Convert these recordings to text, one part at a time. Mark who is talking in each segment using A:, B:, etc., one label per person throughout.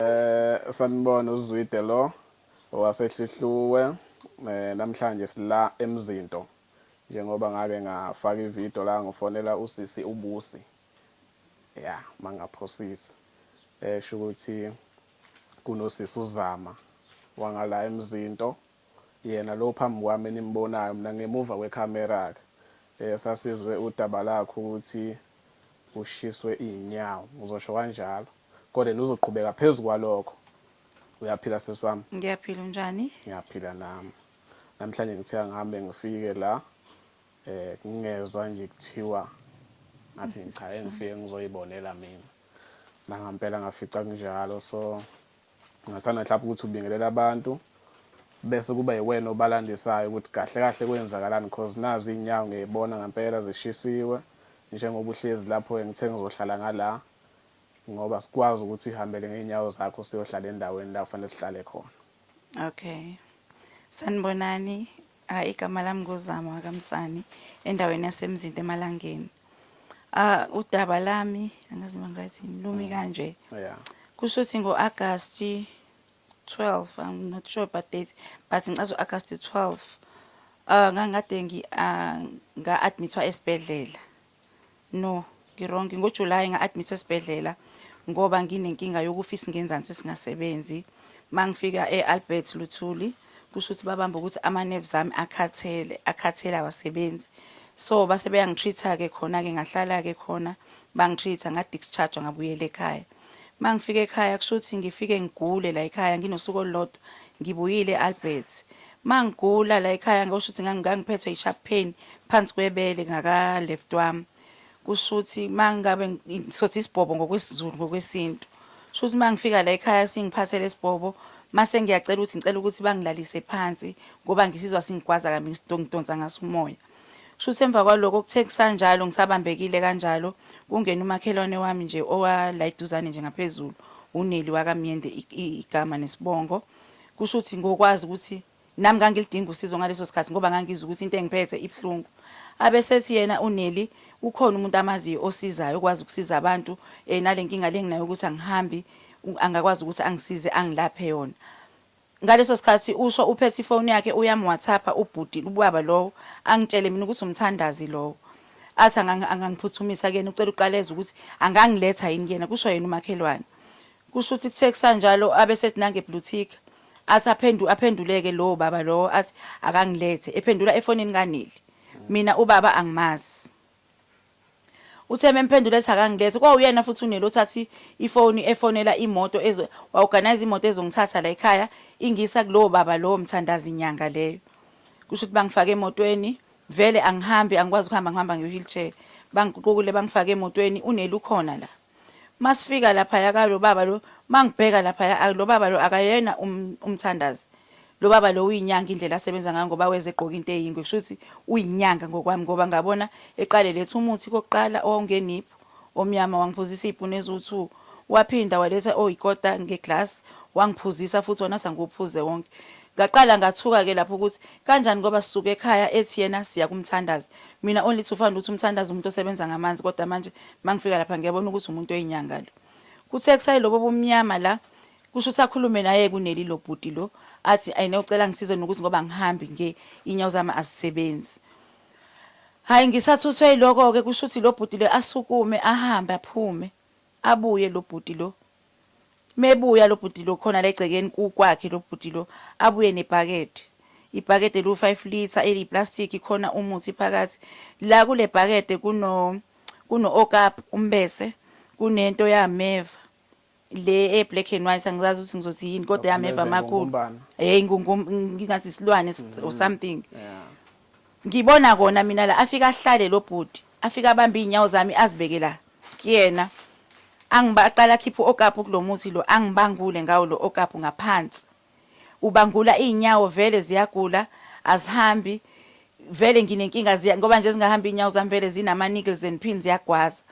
A: Eh sanibona uzwide lo owasehlihluwe eh namhlanje sila emzinto njengoba ngake ngafaka ivideo la ngofonela usisi ubusi ya mangaphosisi esho ukuthi kunosisi uzama wangala emzinto Yena lo phambi kwami enimbonayo mina ngemuva kwe camera ke sasizwe udaba lakhe ukuthi ushiswe izinyawo ngizosho kanjalo kodwa yena uzoqhubeka phezu kwalokho Uyaphila sisi wami? Ngiyaphila unjani?
B: Ngiyaphila nami
A: namhlanje ngithe angihambe ngifike la eh ngingezwa nje kuthiwa ngathi ngichaye ngifike ngizoyibonela mina nangampela ngafica kunjalo so Ngathanda mhlawumbe ukuthi ubingelele abantu bese kuba yiwena obalandisayo ukuthi kahle kahle kwenzakalani because nazi iy'nyawo ngiyayibona ngampela zishisiwe njengoba uhlezi lapho-ke ngithe ngizohlala ngala ngoba sikwazi ukuthi uyihambele ngey'nyawo zakho siyohlala endaweni la kufanele sihlale khona Okay.
B: Sanibonani. Ah, igama lami ngozama wakamsani endaweni yasemzinto emalangeni ah udaba lami angazi noma ngiryt yini lumi mm. kanje yeah kusho
A: ukuthi
B: ngo-agast 12 i'm not sure about date but ngicaza u-agast 12 um ah, ngangikade ah, nga-admithwa esibhedlela No, ngirongi ngoJuly nga-admithwa esibhedlela ngoba nginenkinga yokufa isingenzansi singasebenzi. Mangifika e-Albert Luthuli kusho ukuthi babamba ukuthi ama-nerves ami akhathele, akhathele awasebenzi. So base beyangitreat-a-ke khona-ke ngahlala-ke khona bangitreat-a nga-discharge-wa ngabuyela ekhaya. Uma ngifika ekhaya kusho ukuthi ngifike ngigule la ekhaya nginosuku olulodwa ngibuyile e-Albert. Uma ngigula la ekhaya ngikusho ukuthi ngangiphethwe yi-sharp pain phansi kwebele ngaka-left wami. Kusho ukuthi uma ngabe sothi isibhobo ngokwesiZulu ngokwesintu. Kusho ukuthi uma ngifika la ekhaya singiphathe lesi bhobo mase ngiyacela ukuthi ngicela ukuthi bangilalise phansi ngoba ngisizwa singigwaza kambi ngidonsa ngaso umoya. Shuthi emva kwaloko kuthe kusanjalo ngisabambekile kanjalo kungena umakhelwane wami nje owalayiduzane nje ngaphezulu uneli wakamyende igama nesibongo kusho ukuthi ngokwazi ukuthi nami ngangilidinga usizo ngaleso sikhathi ngoba ngangizwa ukuthi into engiphethe ibuhlungu abesethi yena uneli ukhona umuntu amaziyo osizayo okwazi ukusiza abantu um nale nkinga le nginayo ukuthi angihambi angakwazi ukuthi angisize angilaphe yona Ngaleso sikhathi usho uphethe ifoni yakhe uyamuwathapha ubhuti ubaba lowo angitshele mina ukuthi umthandazi lowo. Athi angangiphuthumisa kuyena ucela uqala ezwe ukuthi angangiletha yini kuyena kusho yena umakhelwane. Kusho ukuthi kuthe kusanjalo abe sethi nange blutika. Athi aphendu aphenduleke lowo baba lowo athi akangilethe ephendula efonini kaNeli. Mina ubaba angimazi. Uthe memphendula ethi akangilethe kwawuyena futhi uNeli othatha ifoni efonela imoto ezo waorganize imoto ezongithatha la ekhaya ingisa kulowo baba lowo mthandazi nyanga leyo. Kusho ukuthi bangifake emotweni vele angihambi angikwazi ukuhamba ngihamba nge wheelchair. Bangiququkule bangifake emotweni uNeli ukhona la. Masifika laphaya ka lo baba lo mangibheka laphaya a- lo baba lo akayena um, umthandazi. Lo baba lo uyinyanga indlela asebenza ngayo ngoba weze egqoka into eyingwe kusho ukuthi uyinyanga ngokwami ngoba ngabona eqale letha umuthi kokuqala owawungeniphu omnyama wangiphuzisa iy'puni eziwu-two waphinda waletha oyikota ngeglass wangiphuzisa futhi wona sangiwuphuze wonke ngaqala ngathuka-ke lapho ukuthi kanjani ngoba sisuke ekhaya ethi yena siya kumthandazi mina only to find ukuthi umthandazi umuntu osebenza ngamanzi kodwa manje Mangifika lapha ngiyabona ukuthi umuntu oyinyanga lo. Kuthe kusayi lobo bomnyama la kusho ukuthi akhulume naye kuneli lo bhuti lo athi ayine ucela ngisize nokuthi ngoba ngihambi nge inyawo zami azisebenzi. Hayi ngisathuthwe iloko ke kusho ukuthi lo bhuti lo asukume ahambe aphume abuye lo bhuti lo Mebuya lobhuti lo khona legcekeni kukwakhe lobhuti lo abuye nebhakede. Ibhakede lu 5 litre eliyi plastic khona umuthi phakathi. La kule bhakede kuno kuno okap umbese kunento yameva le e black and white angizazi ukuthi ngizothi yini kodwa yameva makhulu. Hey ngingathi isilwane or something. Ngibona kona mina la afika ahlale lo bhuti afika abambe izinyawo zami azibeke la kuyena angiba aqala akhiphe okapu kulomuthi lo angibangule ngawo lo okapu ngaphansi ubangula izinyawo vele ziyagula azihambi vele nginenkinga ziya ngoba nje zingahamba izinyawo zami vele zinama niggles and pins ziyagwaza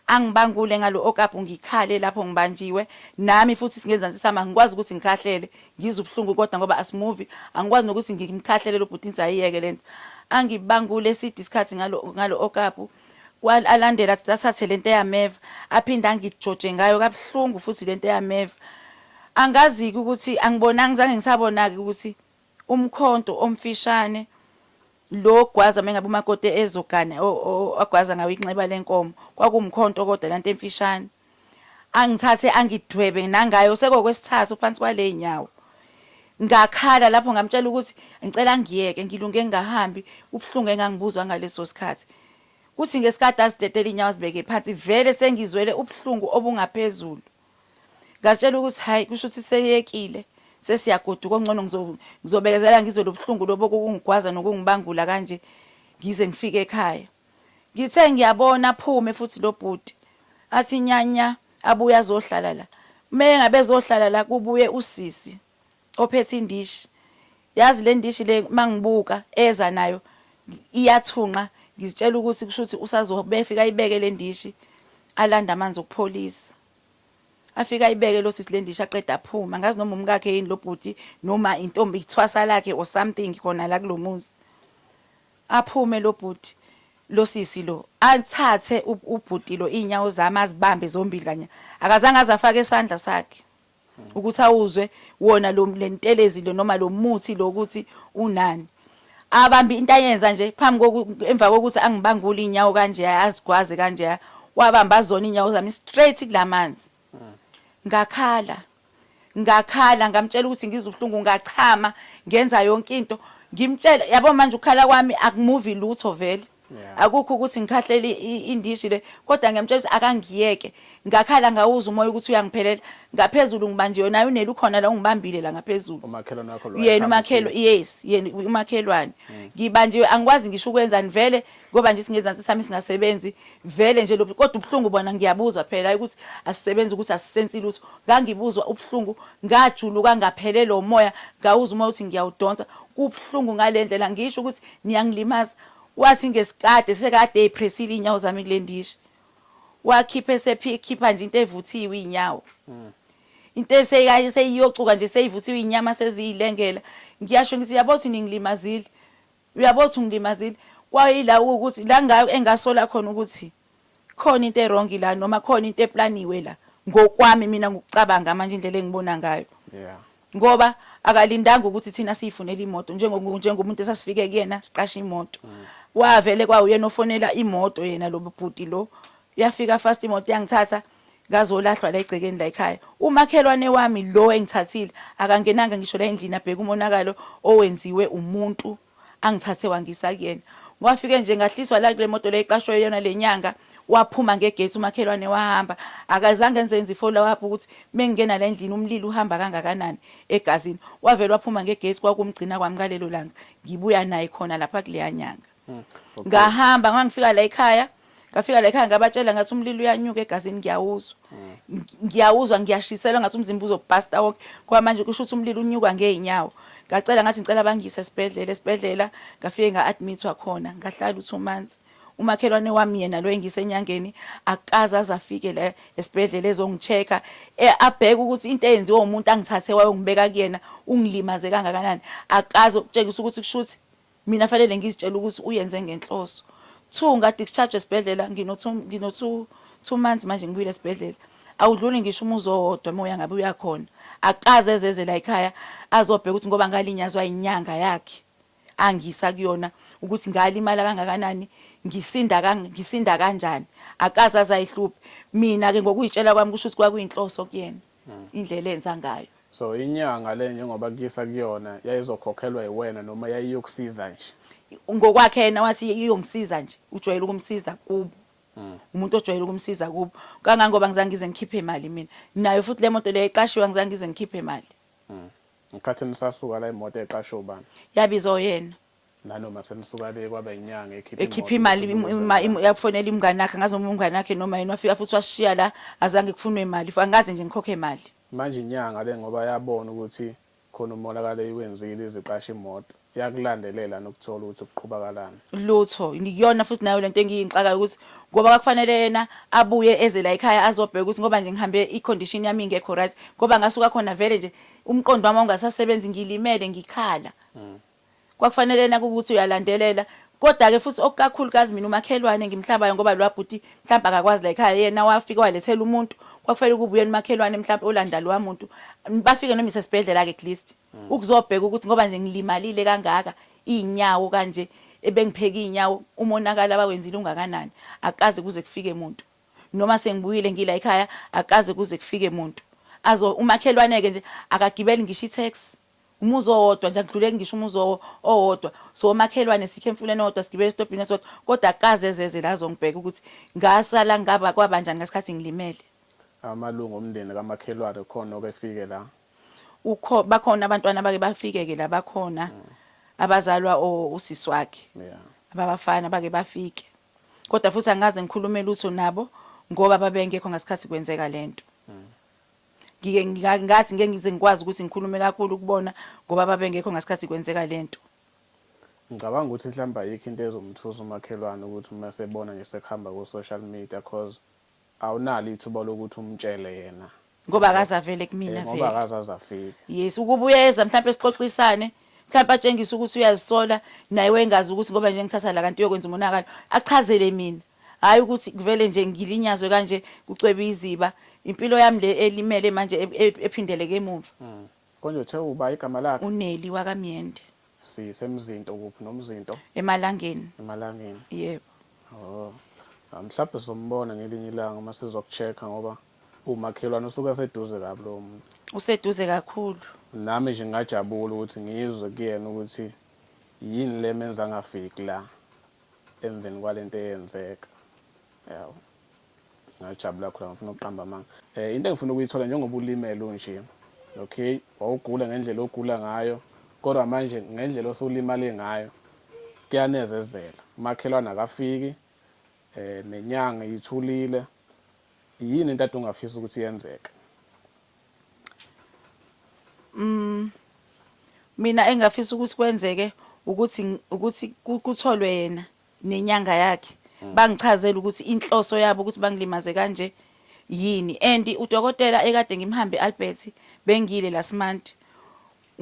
B: angibangule ngalo okapu ngikhale lapho ngibanjiwe nami futhi singenza nsisama ngikwazi ukuthi ngikhahlele Ngizwa ubuhlungu kodwa ngoba asimuvi, angikwazi nokuthi ngimkhahlele lo bhuti ngithi ayiyeke lento. Angibangule eside isikhathi ngalo ngalo okapu. Kwa alandela athi athathe lento eyameva, aphinde angijoje ngayo kabuhlungu futhi lento eyameva. Angazi ukuthi angibonanga ngizange ngisabona ke ukuthi umkhonto omfishane lo gwaza mengabe umakoti ezogana agwaza ngawo inxeba lenkomo kwakuwumkhonto kodwa lento emfishane. angithathe angidwebe nangayo sekokwesithathu phansi kwaley'nyawo ngakhala lapho ngamtshela ukuthi ngicela ngiyeke ngilunge ngingahambi ubuhlungu engangibuzwa ngaleso sikhathi kuthi ngesikade azidedele iy'nyawo azibeke phansi vele sengizwele ubuhlungu obungaphezulu ngazitshela ukuthi hhayi kusho ukuthi seyekile sesiyagoduka ongcono ngizobekezela ngizwe lobuhlungu lobo kokungigwaza nokungibangula kanje ngize ngifike ekhaya Ngithe ngiyabona aphume futhi lo bhuti athi nya nya abuye azohlala la. Uma engabe ezohlala la kubuye usisi ophethe indishi. Yazi le ndishi le uma ngibuka eza nayo iyathunqa ngizitshela ukuthi kusho ukuthi usazobe efika ayibeke le ndishi alande amanzi okupholisa. Afike ayibeke lo sisi le ndishi aqeda aphume. Angazi noma umkakhe yini lo bhuti noma intombi ithwasa lakhe or something khona la kulo muzi. Aphume lobhuti losisi lo athathe ubhuti lo izinyawo zami azibambe zombili kanye akazange azafake isandla sakhe ukuthi awuzwe wona lo lentelezi lo noma lo muthi lo ukuthi unani abambe into ayenza nje phambi emva kokuthi angibangule inyawo kanje azigwaze kanje wabamba zona inyawo zami straight kulamanzi ngakhala ngakhala ngamtshela ukuthi ngizwa ubuhlungu ngachama ngenza yonke into ngimtshela yabo manje ukukhala kwami akumuvi lutho vele akukho ukuthi ngikhahlele indishi le kodwa ngiyamtshela ukuthi akangiyeke ngakhala ngawuza umoya ukuthi uyangiphelela ngaphezulu ngibanje yona nayo unele ukhona la ungibambile la ngaphezulu umakhelwane wakho lo yena
A: umakhelo yes
B: yena umakhelwane hmm. ngibanjiwe angikwazi ngisho ukwenzani vele ngoba nje singezansi sami singasebenzi vele nje lo kodwa ubuhlungu bona ngiyabuzwa phela hayi ukuthi asisebenzi ukuthi asisensi lutho ngangibuzwa ubuhlungu ngajuluka ngaphelelwa umoya ngawuza uma uthi ngiyawudonsa kubuhlungu ngale ndlela ngisho ukuthi niyangilimaza wathi ngesikade sekade eyiphresile iy'nyawo zami kule ndishi wakhipha esekhipha nje into evuthiwe iy'nyawo hmm. into eseyiyocuka nje seyivuthiwe iy'nyama seziyilengela ngiyasho ngithi yabo ukuthi ningilimazile Uyabo ukuthi ungilimazile kwayila ukuthi la engasola khona ukuthi khona into erongi la noma khona into eplaniwe la ngokwami mina ngokucabanga manje indlela engibona ngayo yeah ngoba akalindanga ukuthi thina siyifunele imoto njengomuntu esasifike kuyena siqashe imoto mm. wavele kwawuyena ofonela imoto yena lo bhuti lo yafika fast imoto yangithatha ngazolahlwa la egcekeni la ekhaya umakhelwane wami lo engithathile akangenanga ngisho la endlini abheke umonakalo owenziwe umuntu angithathe wangisa kuyena Ngwafike nje ngahliswa la kule moto le iqashwe yona lenyanga waphuma ngegate umakhelwane wahamba akazange enzenze ifollow up ukuthi mengingena la endlini umlilo uhamba kangakanani egazini wavele waphuma ngegate kwakumgcina kwami ngalelo langa ngibuya naye khona lapha kuleya nyanga Hmm. Ngahamba ngoba ngifika la ekhaya ngafika la ekhaya ngabatshela ngathi umlilo uyanyuka egazini ngiyawuzwa hmm. ngiyawuzwa ngiyashiselwa ngathi umzimba uzobhasta wonke ngoba manje kusho ukuthi umlilo unyuka ngey'nyawo ngacela ngathi ngicela bangiyise esibhedlela esibhedlela ngafike nga-admithwa khona ngahlala u-two months umakhelwane wami yena lo engise enyangeni akaze aze afike la esibhedlela ezongi-check-a e, abheke ukuthi into eyenziwe umuntu angithathe wayongibeka kuyena ungilimaze kangakanani akaze ukutshengisa ukuthi kusho ukuthi Mina fanele ngizitshela ukuthi uyenze ngenhloso. Two, ngathi ngishajwe esibhedlela ngino two, ngino two, two months manje ngibuyile esibhedlela. Awudluli ngisho umuzi owodwa uma uyangabe uyakhona. Akaze ezeze la ekhaya azobheka ukuthi ngoba ngalinyazwa inyanga yakhe angisa kuyona ukuthi ngalimala kangakanani ngisinda ngisinda kanjani akaze azayihluphe mina ke ngokuyitshela kwami kusho ukuthi kwakuyinhloso kuyena mm. indlela enza ngayo so inyanga
A: le njengoba kuyisa kuyona yayizokhokhelwa yiwena noma yayiyokusiza nje ngokwakhe yena
B: wathi iyongisiza nje ujwayele ukumsiza kubo mm. umuntu ojwayele ukumsiza kubo kangangoba ngizange ngize ngikhiphe imali mina nayo futhi le moto leyo iqashiwe ngizange ngize ngikhiphe imali mm. ngikhathi
A: nisasuka la imoto eqashiwe ubani yabizwa yena
B: nanoma selisuka
A: le kwaba inyanga ekhipha ekhipha imali
B: yakufonela imngane yakhe ngazi noma umngane yakhe noma yini wafika futhi washiya la azange kufunwe imali angazi nje ngikhokhe imali manje inyanga le
A: ngoba yabona ukuthi khona umonakalo iwenzile iziqasha imoto yakulandelela nokuthola ukuthi kuqhubakalani lutho
B: ngiyona futhi nayo lento engiyinxaka ukuthi ngoba kwakufanele yena abuye eze la ekhaya azobheka ukuthi ngoba nje ngihambe icondition yami ingekho right ngoba ngasuka khona vele nje umqondo wami ungasasebenzi ngilimele ngikhala mm. Kwakufanele ena kukuthi uyalandelela Koda ke futhi okukakhulu kazi mina umakhelwane engimhlabayo ngoba lwa bhuti mhlampe akakwazi la ekhaya yena wafika walethela umuntu kwakufele ukuba uyena umakhelwane mhlampe olanda lwa muntu bafike noma isesibhedlela ke at least mm. ukuzobheka ukuthi ngoba nje ngilimalile kangaka izinyawo kanje ebengipheka izinyawo umonakala abawenzile ungakanani akaze kuze kufike umuntu noma sengibuyile ngila ekhaya akaze kuze kufike umuntu azo umakhelwane ke nje akagibeli ngisho i-tax Umuzi owodwa nje akudluleki ngisho umuzi owodwa siwomakhelwane sikhe emfuleni owodwa sigibele esitobhini esodwa kodwa akaze ezeze la azongibheka ukuthi ngasala ngaba kwabanjani ngesikhathi ngilimele. Amalungu
A: omndeni kamakhelwane khona oke efike la? Ukho
B: bakhona abantwana abake bafike ke la bakhona mm. abazalwa usisi wakhe yeah. ababafana bake bafike kodwa futhi angaze ngikhulume lutho nabo ngoba babengekho ngesikhathi kwenzeka lento mm. ngike ngika- ngathi ngeke ngize ngikwazi ukuthi ngikhulume kakhulu kubona ngoba babengekho ngasikhathi kwenzeka le nto
A: Ngicabanga ukuthi mhlawumbe ayikho into ezomthusa umakhelwane ukuthi uma esebona nje sekuhamba ku-social media cause awunalo ithuba lokuthi umtshele yena. ngoba akaze avele
B: Eh, kumina Ngoba vele akaze aze afike.
A: yes ukuba uyeza
B: mhlawumbe sixoxisane mhlawumbe atshengise ukuthi uyazisola naye wengazi ukuthi ngoba nje ngithatha la kanti uyokwenza umonakalo achazele mina Hhayi ukuthi kuvele nje ngilinyazwe kanje kucwebe iziba. Impilo yami le elimele manje e- e- ephindeleke emumva. Konje uthe
A: uba igama lakhe? UNeli wakaMyende,
B: Sisemzinto
A: kuphi nomzinto? eMalangeni.
B: Emalangeni. Yebo. Oh.
A: Ah, Mhlawumbe sizombona ngelinye ilanga uma sizoku-check-a ngoba umakhelwane usuke eseduze kabi lowo muntu. Useduze kakhulu.
B: Nami nje
A: ngingajabula ukuthi ngizwe kuyena ukuthi yini le menza angafiki la. emveni kwalento eyenzeka yabo ngajabula khona ngifuna ukuqamba amanga eh into engifuna ukuyithola njengoba ulimele unje okay wawugula ngendlela ogula ngayo kodwa manje ngendlela osulimale ngayo kuyanezezela umakhelwane akafiki eh nenyanga ithulile yini into ade ungafisa ukuthi yenzeke Mm,
B: mina engingafisa ukuthi kwenzeke ukuthi ukuthi ku- kutholwe yena nenyanga yakhe bangichazele ukuthi inhloso yabo ukuthi bangilimaze kanje yini and udokotela ekade ngimhambe Albert bengile last month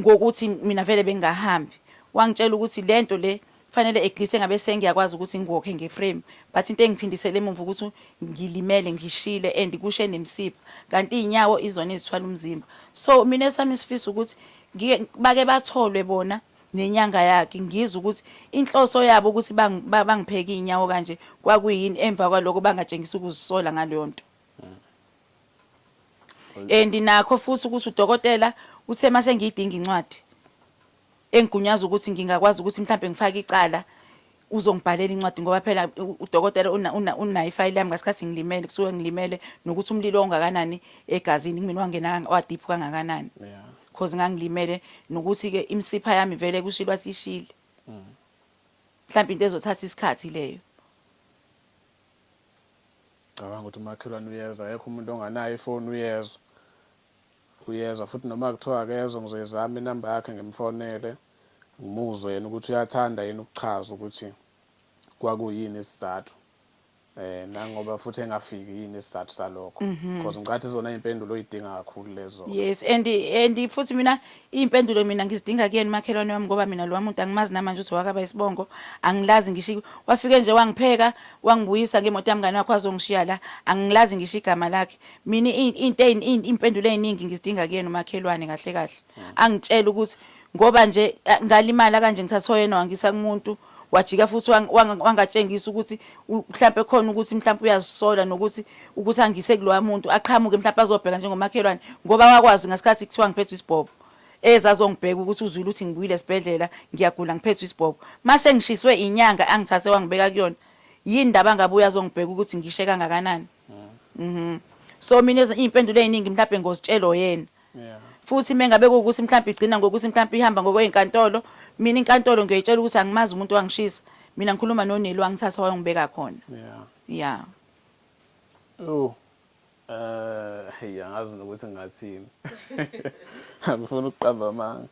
B: ngokuthi mina vele bengahambi wangitshela ukuthi lento le fanele eglise ngabe sengiyakwazi ukuthi ngiwokhe ngeframe but into engiphindisele emuva ukuthi ngilimele ngishile and kushe nemsipha kanti izinyawo izona ezithwala umzimba so mina esami isifiso ukuthi bake batholwe bona nenyanga yakhe ngizwe ukuthi inhloso yabo ukuthi bangipheke izinyawo kanje kwakuyini emva kwaloko bangatshengisa ukuzisola ngaleyo nto and nakho futhi ukuthi udokotela uthe mase ngiyidinga incwadi engigunyaza ukuthi ngingakwazi ukuthi mhlawumbe ngifake icala uzongibhalela incwadi ngoba phela udokotela unayo ifayili yami ngasikhathi ngilimele kusuke ngilimele nokuthi umlilo ongakanani egazini kumina wangena wadiphu kangakanani because ngangilimele nokuthi-ke imisipha yami vele kushilo athi ishile mm. mhlawumbe into ezothatha isikhathi leyo
A: Cabanga ukuthi umakhelwane uyeza akekho umuntu onganayo ifoni uyezwa uyezwa futhi noma kuthiwa akezwa ngizoyizama inamba yakhe ngimfonele ngimuzwe yena ukuthi uyathanda yini ukuchaza ukuthi kwakuyini isizathu eh nangoba futhi engafiki yini isizathu salokho mhm. because ngicathi izona impendulo oyidinga kakhulu lezo yes and and
B: futhi mina Iy'mpendulo mina ngizidinga kuyena umakhelwane wami ngoba mina lo wamuntu angimazi namanje ukuthi wakaba isibongo angilazi ngisho wafike nje wangipheka wangibuyisa ngemoto yamngane wakho azongishiya la angilazi ngisho igama lakhe mina into iy'mpendulo ey'ningi ngizidinga kuyena umakhelwane kahle kahle angitshela ukuthi ngoba nje ngalimala kanje ngithathwa yena wangisa kumuntu wajika futhi wangatshengisa ukuthi mhlawumpe khona ukuthi mhlawumpe uyazisola nokuthi ukuthi angise kuloya muntu aqhamuke mhlawumpe azobheka njengomakhelwane ngoba wakwazi ngesikhathi kuthiwa ngiphethwe isibhobo ezazongibheka ukuthi uzwile ukuthi ngibuyile esibhedlela ngiyagula ngiphethwe isibhobo mase ngishiswe inyanga angithathe wangibeka kuyona yini ndaba ngabuya azongibheka ukuthi ngishe kangakanani mhm so mina izimpendulo eziningi mhlawumbe ngozitshelo yena futhi mengabe kuwukuthi mhlawumbe igcina ngokuthi mhlawumbe ihamba ngokweyinkantolo mina inkantolo ngiyoyitshela ukuthi angimazi umuntu wangishisa mina ngikhuluma noneli wangithatha wayongibeka khona ya yeah. oh
A: eh hey angazi nokuthi ngathini angifuni ukuqamba amanga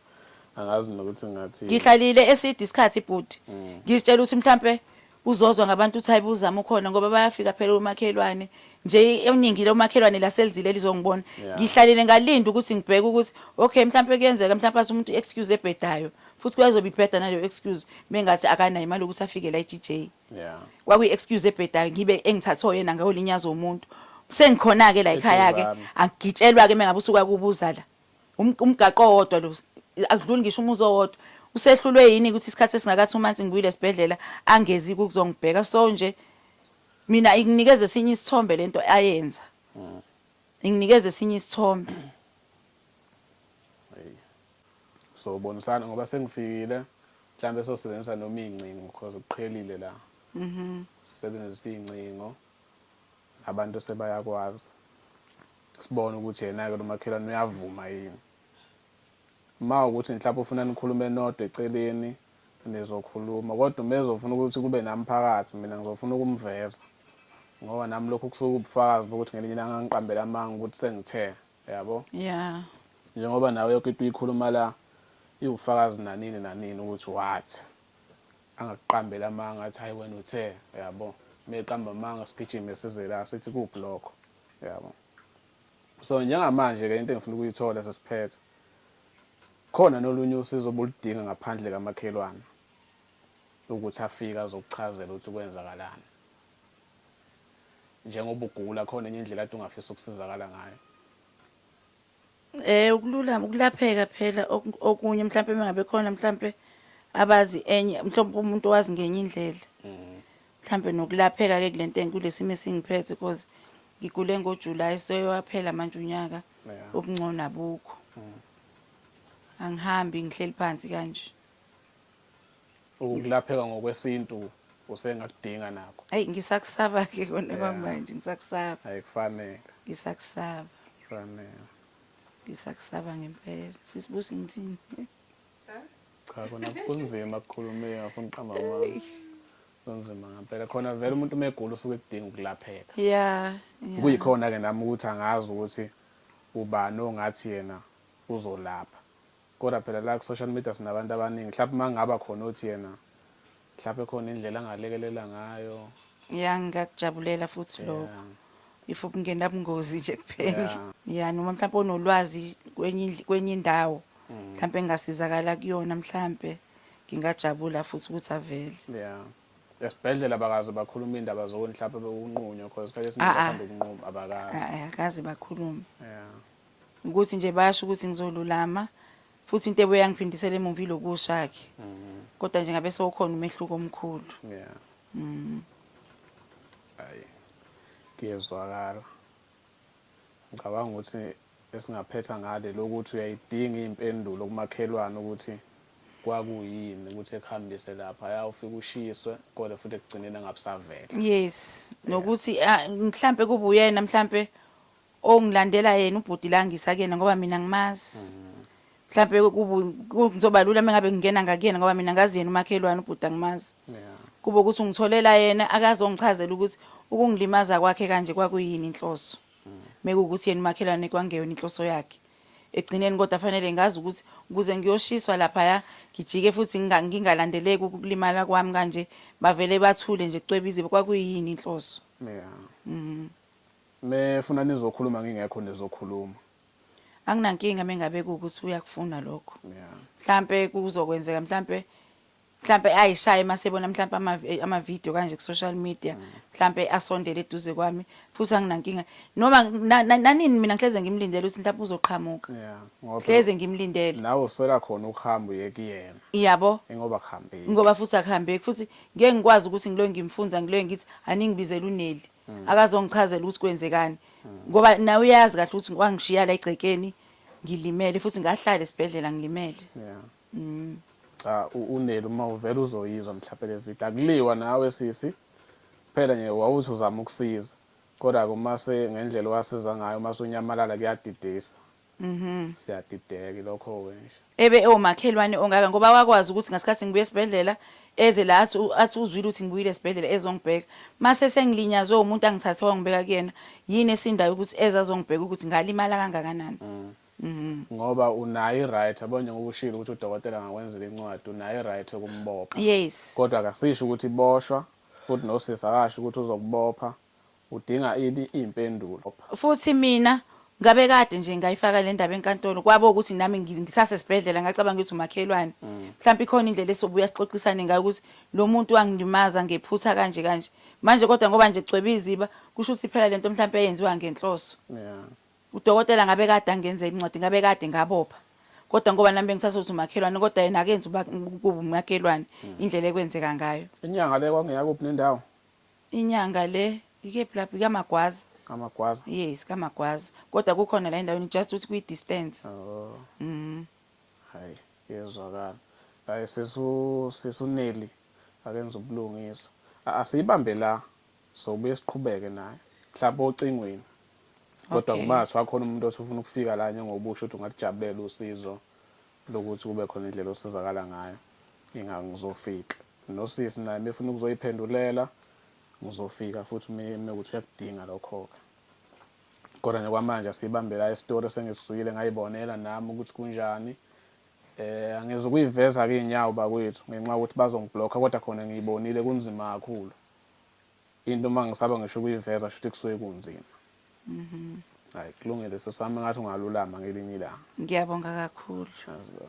A: angazi nokuthi ngathini ngihlalile eside
B: isikhathi ibhuti mm. ngizitshela ukuthi mhlawumbe Uzozwa ngabantu uthi hayibo uzama ukhona ngoba bayafika phela omakhelwane nje eningi lomakhelwane laselizile lizongibona yeah. ngihlalile ngalinda ukuthi ngibheke ukuthi okay mhlawumpe kuyenzeka mhlawumpe athi umuntu excuse ebhedayo futhi kuyazobe ibheda naleyo excuse mengathi akanayo imali ukuthi afike la eGJ yeah kwakuyi excuse ebhedayo ngibe engithathwe yena ngawo linyazo umuntu sengikhona ke la ekhaya ke angigitshelwa ke
A: mengabe
B: usuka kubuza la Um- umgaqo owodwa lo akudluli ngisho umuzi owodwa usehlulwe yini ukuthi isikhathi esingakathi uma ngithi ngibuyile esibhedlela angezi kuzongibheka so nje mina inginikeza esinye isithombe lento ayenza inginikeza esinye isithombe
A: so bonisana ngoba sengifikile mhlawumbe sosebenzisa noma iy'ncingo because kuqhelile la sisebenzisa iy'ncingo Abantu sebayakwazi sibone ukuthi yenake lomakhelwane uyavuma yini. Uma ukuthi mhlawumbe ufuna nikhulume nodwa eceleni nizokhuluma kodwa uma ezofuna ukuthi kube nami phakathi mina ngizofuna ukumveza ngoba nami lokhu kusuke ubufakazi bokuthi ngelinye ilanga ngiqambela amanga ukuthi sengithe yabo yeah
B: njengoba nawe
A: yonke into uyikhuluma la iwufakazi nanini nanini ukuthi wathi Angakuqambeli amanga athi hhayi wena uthe yabo. Uma eqamba amanga sigijime size la sithi kuphi lokho yabo. So njengamanje-ke into engifuna ukuyithola sesiphetha khona nolunye usizo obuludinga ngaphandle kamakhelwane ukuthi afike azokuchazela ukuthi kwenzakalani njengoba ugula khona enye indlela ade ungafisa ukusizakala ngayo Eh
B: ukululama ukulapheka phela okunye mhlawumbe mengabe khona mhlawumbe abazi enye mhlawumbe umuntu owazi ngenye indlela. Mhm. Mhlawumbe nokulapheka ke kulento engikulesimo esingiphethe because ngigule ngoJuly seyowaphela manje unyaka ubungcono abukho. Mhm. Angihambi ngihleli phansi kanje. ukulapheka
A: ngokwesintu usengakudinga nakho ayi ngisakusaba
B: ke kona kwamanje ngisakusaba ayi kufanele
A: ngisakusaba
B: kufanele
A: ngisakusaba
B: ngempela sisibusi ngithini
A: cha kona kunzima ukukhuluma ngafuna uqamba amanga kunzima ngempela khona vele umuntu uma egula usuke edinga ukulapheka ya
B: kuyikhona-ke
A: nami ukuthi angazi ukuthi ubani ongathi yena uzolapha Kodwa phela la ku social media sinabantu abaningi mhlampe uma kungaba khona othi yena mhlampe khona indlela angalekelela ngayo. Ya
B: ngiyakujabulela futhi lokho. Yeah. If ukungena bungozi nje kuphela. Yeah. Ya noma mhlampe onolwazi kwenye indl- kwenye indawo mhlampe engasizakala kuyona mhlampe ngingajabula futhi ukuthi avele.
A: Yeah. Esibhedlela bakaze bakhuluma indaba zokuni mhlampe bekunqunywa because isikhathi esiningi Ah, ah. bathanda ukunquma abakazi. Ah, ah, akaze bakhulume.
B: Yeah.
A: Ukuthi nje
B: bayasho ukuthi ngizolulama futhi into ebuye yangiphindisela emuva ilokusha-ke kodwa nje ngabe sewukhona umehluko omkhulu Yeah. Mm.
A: Ayi. Kuyezwakala. Ngicabanga ukuthi esingaphetha ngale lokuthi uyayidinga impendulo kumakhelwane ukuthi kwakuyini ukuthi ekuhambise lapha ya ufike ushiswe kodwa futhi ekugcineni angabusavela. yes
B: nokuthi ah, mhlampe kube uyena mhlampe Oh ngilandela yena ubhuti la ngisa kuyena ngoba mina ngimazi. Mhlambe kubu kuzoba lula mengabe ngingena ngakuyena ngoba mina ngazi yena umakhelwane ubhuti angimazi. Yeah. Kube ukuthi ungitholela yena akazongichazela ukuthi ukungilimaza kwakhe kanje kwakuyini inhloso. Mekuwukuthi yena umakhelwane kwangeyona inhloso yakhe. Ekugcineni kodwa fanele ngazi ukuthi ukuze ngiyoshiswa lapha ya ngijike futhi nginga- ngingalandeleki ukulimala kwami kanje bavele bathule nje kucwebizibe kwakuyini inhloso. Yeah. Mhm.
A: Me funa nizokhuluma ngingekho nizokhuluma.
B: Anginankinga mengabe kuwukuthi uyakufuna lokho. Yeah. Mhlampe kuzokwenzeka mhlampe mhlampe ayishaye masebona mhlampe ama eh, ama video kanje ku social media mm. mhlampe asondele eduze kwami futhi anginankinga noma nanini mina ngihleze ngimlindele ukuthi mhlampe uzoqhamuka yeah ngoba hleze
A: ngimlindele
B: nawe uswela khona
A: ukuhamba uye kuyena iyabo ngoba
B: kuhambeki
A: ngoba futhi akuhambeki
B: futhi ngeke ngikwazi ukuthi ngiloyo ngimfunza ngiloyo ngithi aningibizela uneli mm. akazongichazela ukuthi kwenzekani mm. ngoba nawe uyazi kahle ukuthi wangishiya la egcekeni ngilimele futhi ngahlala esibhedlela ngilimele yeah. mm.
A: cha uneli uma uvela uzoyizwa mhlawumbe le video akuliwa nawe sisi phela nje wawuthi uzama ukusiza kodwa-ke uma se ngendlela owasiza ngayo uma sunyamalala kuyadidisa Mhm. Siyadideka ilokho ke nje. Ebe ewomakhelwane
B: ongaka ngoba wakwazi ukuthi ngasikhathi ngibuye esibhedlela eze la athi u- athi uzwile ukuthi ngibuyile esibhedlela ezongibheka. Mase sengilinyazwe umuntu angithathe wangibeka kuyena. Yini esindayo ukuthi eze azongibheka ukuthi ngalimala kangakanani. Mhm.
A: Ngoba unayo i-right yabo njengoba ushilo ukuthi udokotela angakwenzela incwadi unayo i-right yokumbopha. Yes. Kodwa
B: akasisho ukuthi
A: boshwa futhi nosisi akasho ukuthi uzokubopha. Udinga ini impendulo. Futhi mina
B: ngabe kade nje ngayifaka lendaba enkantolo kwabo ukuthi nami ngisase sibhedlela ngacabanga ukuthi umakhelwane mm. mhlawumbe ikhona indlela esobuya sixoxisane ngayo ukuthi lo muntu wangilimaza ngephutha kanje kanje manje kodwa ngoba nje kucwebe iziba kusho ukuthi phela lento mhlawumbe eyenziwa ngenhloso yeah
A: udokotela ngabe
B: kade angenza incwadi ngabe kade ngabopha kodwa ngoba nami bengisase ukuthi umakhelwane kodwa yena akenzi uba kubumakhelwane mm. indlela ekwenzeka ngayo inyanga le kwangeyakuphi
A: nendawo Inyanga
B: le ikephi lapho ikamagwaza. Kamagwaza. Yes
A: kamagwaza.
B: Kodwa kukhona la endaweni just ukuthi kwi distance. Oh.
A: Mhm. Hayi yezwakala. Hayi sisu sisuneli akenza ubulungiswa. Asiyibambe la sobuye siqhubeke naye. Mhlawumbe ocingweni. Kodwa kuba ngathiwa khona
B: umuntu osufuna
A: ukufika la njengobusho ukuthi ungalijabulela usizo lokuthi kube khona indlela osizakala ngayo inga ngizofika nosisi naye mefuna ukuzoyiphendulela ngizofika futhi mekuthi uyakudinga lokho-ke kodwa nje kwamanje asiyibambe la isitori sengisizwile ngayibonela nami ukuthi kunjani eh angeze ukuyiveza ke inyawo bakwethu ngenxa ukuthi bazongiblocka kodwa khona ngiyibonile kunzima kakhulu Into uma ngisaba ngisho ukuyiveza shuthi kusuke kunzima. Mhm. Hayi kulungile
B: sesami
A: ngathi ungalulama ngelinye ilanga. Ngiyabonga kakhulu. Azo.